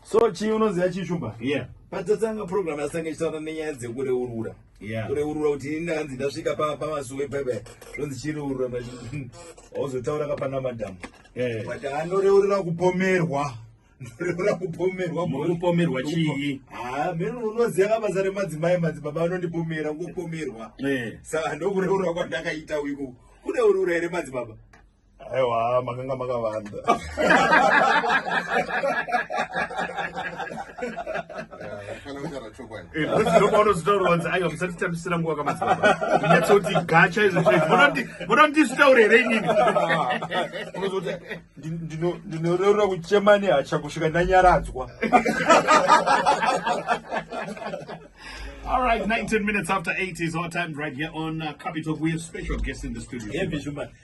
so chii unoziva chii shumba yeah patatanga program yasanga ichitaura nenyaya dzekureurura kureurura kuti ini ndakanzi ndasvika pamasuwe pepe zvonzi chireurura auzotaura kapana madhamu but anoreurura kupomerwa ndoreura kupomerwa kupomerwa chii ha mene unoziva kabasa remadzimai madzibaba anondipomera kupomerwa saka ndokureurura kwandakaita uiku kureurura here madzibaba aiwa makanga makavanda ndozvinobaunozvitaurwanzi aiwa musatitambisira nguva kamazinyatsokuti gacha izvomoda ndizvitaure here inini ndinoreurura kuchema nehacha kusvika ndanyaradzwa All right, 19 minutes after 8 is our time right here on uh, Capital. We have special guests in the studio.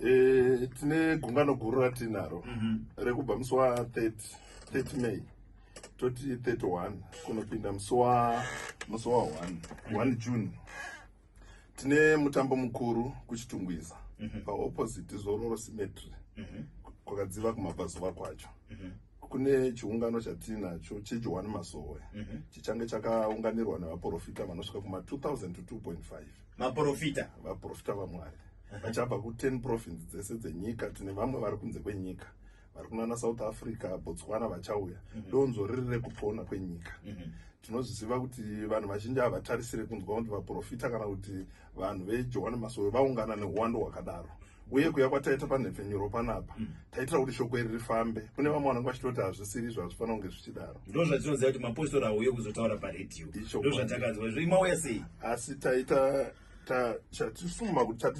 e, tine gungano guru ratiinaro mm -hmm. rekubva musi wa 30, 30 may toti 31 kunopinda musi wa musi wa 1 mm -hmm. june tine mutambo mukuru kuchitungwiza mm -hmm. paopposite zororo symmetry mm -hmm. kwakadziva kumabvazuva kwacho mm -hmm kune chiungano chatiinacho chejohani masowe mm -hmm. chichange chakaunganirwa nevaprofita vanosvika kuma 2000 to 2.5 vaprofita vaprofita vamwari vachabva ku10 province dzese dzenyika tine vamwe vari kunze kwenyika vari kunana south africa botswana vachauya mhm. donzvo riri rekupona kwenyika mhm. tinozviziva kuti vanhu vazhinji havatarisire kunzwa kuti vaprofita kana kuti vanhu vejohani masowe vaungana neuwando hwakadaro uye kuya kwataita panhepfenyuro panapa mm. taitira kuti shoko iri rifambe kune vamwe vanenge vachitoti hazvisiri izvo hazvifanira kunge zvichidaro ndo zvatinoziva kuti mapostori auye kuzotaura paredio ndo zvatakanzwa izvo imauya sei asi taita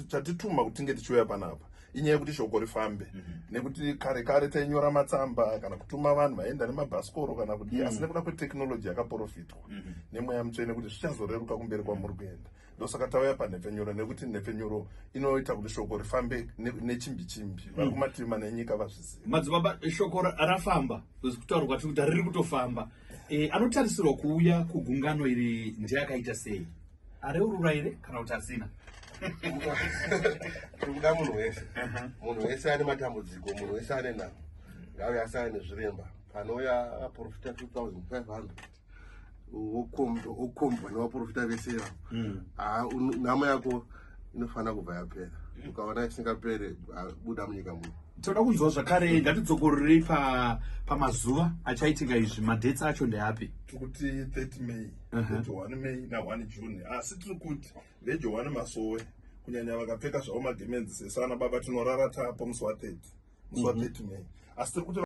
chatituma kuti tinge tichiuya panapa inyaya yekuti shoko rifambe mhm. nekuti kare kare tainyora matsamba kana kutuma vanhu vaenda nemabhasikoro kana kudii mhm. asi nekuda kwetechnology yakaprofitwa mhm. nemweya mutsvene kuti zvichazoreruka kumberi kwamuri kuenda ndosaka tauya panhepfenyuro nekuti nhepfenyuro inoita kuti shoko rifambe nechimbi chimbi mm. vari kumativi mana enyika vazviziva madzibaba shoko rafamba kuzi kutaura kwatiri kuti riri kutofamba eh, anotarisirwa kuuya kugungano iri ndeakaita sei areurura here kana kuti asina tiri kuda munhu wese uh-huh. munhu wese ane matambudziko munhu wese ane namo ngauya asana nezviremba panouya vaprofita 2500 wokombwa nevaprofita vese ivavo hmm. ah, namo yako inofanira kubva yapera ukaona isingapere ah, buda munyika muno toda kunzwa zvakare ngatidzokororei pamazuva achaitika izvi madhets acho ndeapi tikuti 30 may vejohwani may nahwani june asi tiri kuti vejohwani masowe kunyanya vakapfeka zvavo magemenzi sesu ana baba tinorara tapa musi wa 30 musi wa 30 mhm. may asi tiri kuti